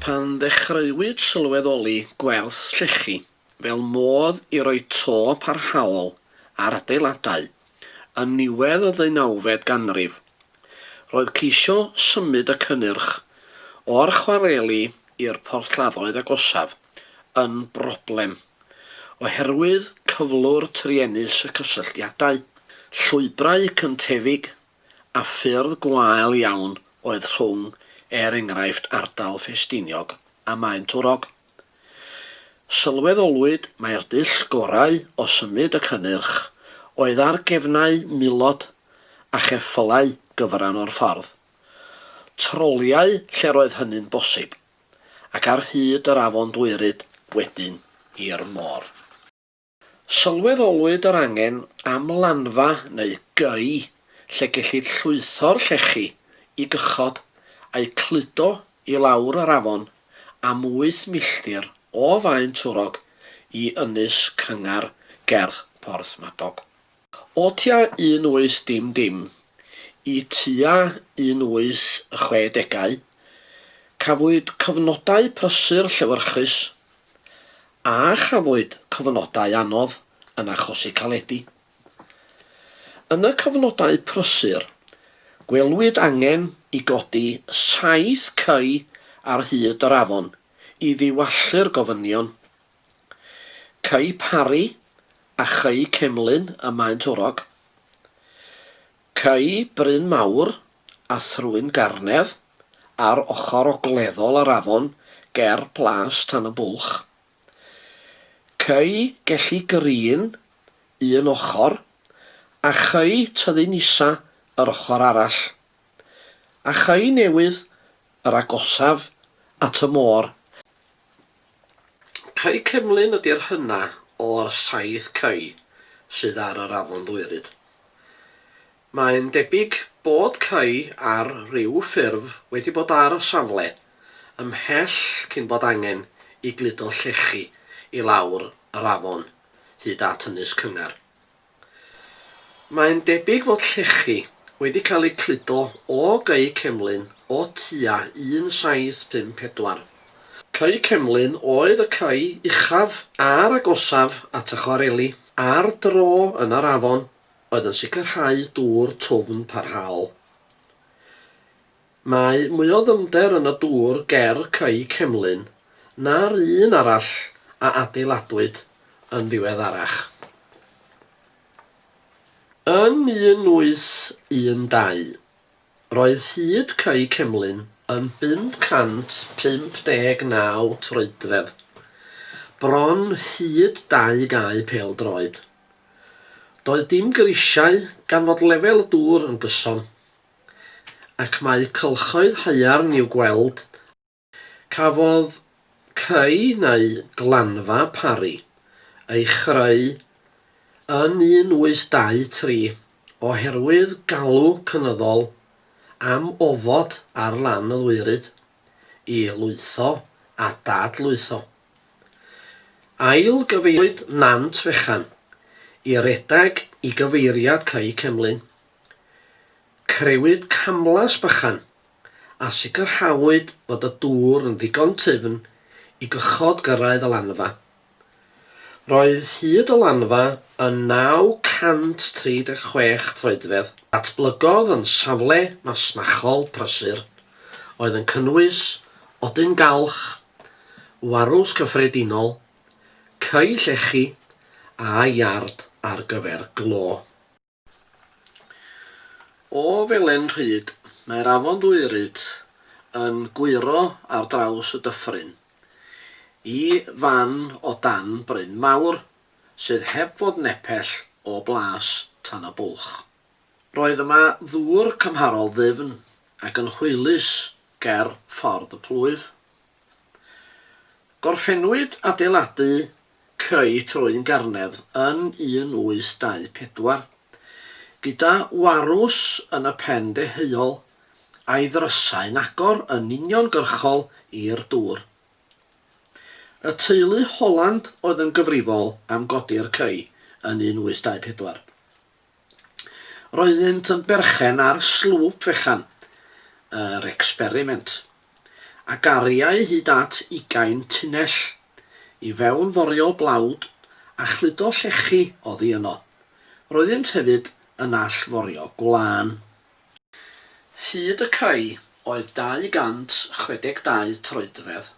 Pan ddechreuwyd sylweddoli gwerth llechi fel modd i roi to parhaol ar adeiladau yn niwedd y ddeunawfed ganrif, roedd ceisio symud y cynnyrch o'r chwareli i'r porthladdoedd agosaf, yn broblem oherwydd cyflwr truenus y cysylltiadau, llwybrau cyntefig a ffyrdd gwael iawn oedd rhwng, er enghraifft, ardal Ffestiniog a Maentwrog. Sylweddolwyd mai'r dull gorau o symud y cynnyrch oedd ar gefnau milod a cheffylau gyfran o'r ffordd, troliau lle'r oedd hynny'n bosib. ac ar hyd yr afon Dwyryd wedyn i'r môr. Sylweddolwyd yr angen am lanfa neu gei lle gellid llwytho'r llechi i gychod a'u cludo i lawr yr afon am wyth milltir o Faen Twrog i ynys cyngar gerdd Porthmadog. O tua un oes dim dim i tua un oes y chwe degau, cafwyd cyfnodau prysur llewyrchus, a chafwyd cyfnodau anodd yn achosi caledi. Yn y cyfnodau prysur, gwelwyd angen i godi saith cei ar hyd yr afon i ddiwallu'r gofynion. Cei Parry a Chei Cemlyn ym Maentwrog. Cei Bryn Mawr a Thrwyn Garnedd ar ochr ogleddol yr afon ger Plas Tan y Bwlch. Cei Gelli Green un ochr a Chei Tyddyn Isa yr ochr arall. A Chei Newydd yr agosaf at y môr. Cae Cemlyn ydy'r hynna' o'r saith cae sydd ar yr Afon Ddwyryd. Mae'n debyg bod cae ar ryw ffurf wedi bod ar y safle ymhell cyn bod angen i gludo llechi i lawr yr afon hyd at Ynys Cyngar. Mae'n debyg fod llechi wedi cael eu cludo o gau cemlyn o tua 1754. Cau cemlyn oedd y cau uchaf a'r agosaf at y chwareli ar dro yn yr afon oedd yn sicrhau dŵr twfn parhaol. Mae mwy o ddyfnder yn y dŵr ger Cae Cemlyn na'r un arall a adeiladwyd yn ddiweddarach. Yn 1812, roedd hyd Cae Cemlyn yn 559 troedfedd, bron hyd dau gae pêl-droed. Doedd dim grisiau gan fod lefel y dŵr yn gyson. ac mae cylchoedd haearn i'w gweld yma. Cafodd cae neu glanfa Parry ei chreu yn 1823 oherwydd galw cynyddol am ofod ar lan y ddwyrain i lwytho a dad-lwytho. Ail-gyfeiriwyd Nant Fechan i redeg i gyfeiriad Cae Cemlyn Crëwyd camlas bychan a sicrhawyd bod y dŵr yn ddigon tyfn i gychod gyrraedd y lanfa. Roedd hyd y lanfa yn 936 troedfedd. Datblygodd yn safle masnachol prysur oedd yn cynnwys odyn galch, warws cyffredinol, ceu llechi a iard ar gyfer glo. O felen rhyd, mae'r afon Ddwyryd yn gwyro ar draws y dyffryn i fan o dan bryn mawr sydd heb fod nepell o blas Tan y Bwlch. Roedd yma ddŵr cymharol ddyfn ac yn hwylus ger ffordd y plwyf. Gorffennwyd adeiladu creu troi'n garnedd yn 1824. Gyda Warws yn y pen deheuol, a'i ddrysau'n agor yn uniongyrchol i'r dŵr. Y teulu Holland oedd yn gyfrifol am godi'r cei yn 1824. Roeddynt yn berchen ar slwp fechan yr experiment, a gariai hyd at ugain tunnell i fewn forio blawd a chludo llechi oddi yno. Roeddynt hefyd yn all forio gwlân. Hyd y cae oedd 262 troedfedd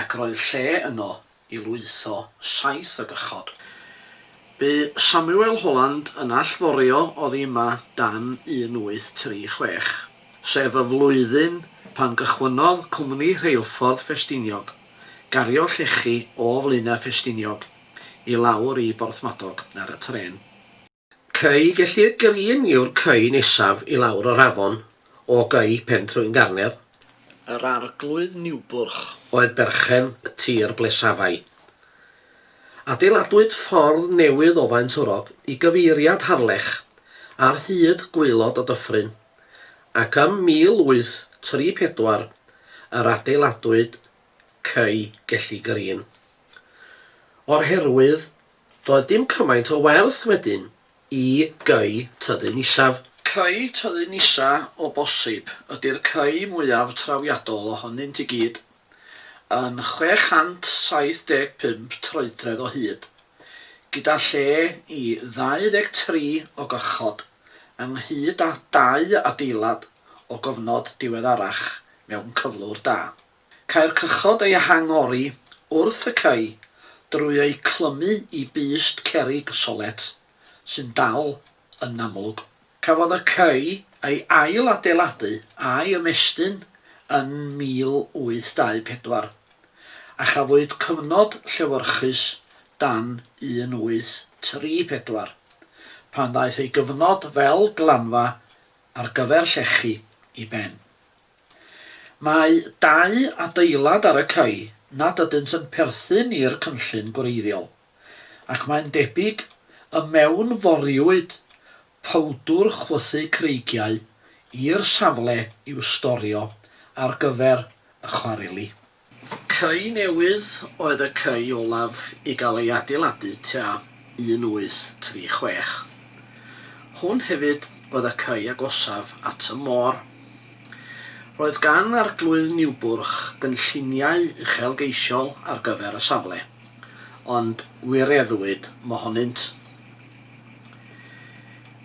ac roedd lle yno i lwytho saith o gychod. Bu Samuel Holland yn allforio oddi yma dan 1836, sef y flwyddyn pan gychwynnodd Cwmni Rheilffordd Ffestiniog gario llechi o Flaenau Ffestiniog i lawr i Borthmadog ar y trên. Cei gellir Green yw'r cei nesaf i lawr o'r afon o gei Pentrwyn Garner. Yr Arglwydd Niwbwrch. Oedd berchen y tir ble safai. Adeiladwyd ffordd newydd o Faentwrog i gyfeiriad Harlech ar hyd gwaelod y dyffryn, ac ym 1834 yr adeiladwyd cei Gelli Green. O'r herwydd Doedd dim cymaint o werth wedyn i Cy Tyddyn Isaf. Cy Tyddyn Isa o bosib ydy'r cy mwyaf trawiadol ohonynt i gyd, yn 675 troedfedd o hyd, gyda lle i 23 o gychod, ynghyd â dau adeilad o gofnod diweddarach mewn cyflwr da. Cae'r cychod ei hangori wrth y cae drwy eu clymu i bust cerrig solet sy'n dal yn amlwg. Cafodd y cae ei ail-adeiladu a'i ymestyn yn 1824, a chafwyd cyfnod llewyrchus dan 1834, pan ddaeth ei gyfnod fel glanfa ar gyfer llechi i ben. Mae dau adeilad ar y cae nad ydynt yn perthyn i'r cynllun gwreiddiol, ac mae'n debyg y mewnforiwyd powdwr chwythu creigiau i'r safle i'w storio ar gyfer y chwareli. Cae newydd oedd y cae olaf i gael ei adeiladu tua 1836. Hwn hefyd oedd y cae agosaf at y môr. Roedd gan Arglwydd Niwbwrch gynlluniau uchelgeisiol ar gyfer y safle, ond wireddwyd mohonynt.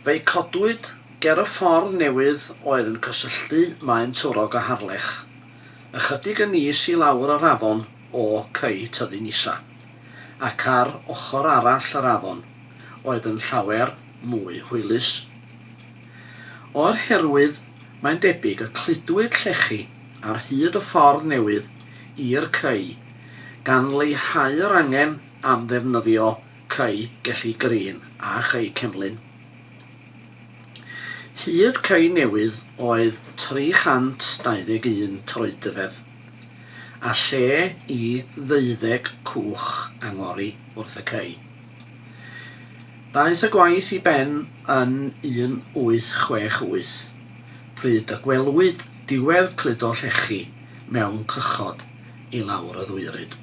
Fe'i codwyd ger y ffordd newydd oedd yn cysylltu Maen Twrog a Harlech. ychydig yn is i lawr yr afon o Cei Tyddyn Isa, ac ar ochr arall yr afon oedd yn llawer mwy hwylus. O'r herwydd, mae'n debyg y cludwyd llechi ar hyd y ffordd newydd i'r Cei, gan leihau yr angen am ddefnyddio Cei Gelli Green a Chei Cemlyn. Hyd Cei Newydd oedd 321 troedfedd, a lle i ddeuddeg cwch angori wrth y cei. Daeth y gwaith i ben yn 1868, pryd y gwelwyd diwedd cludo llechi mewn cychod i lawr y ddwyryd.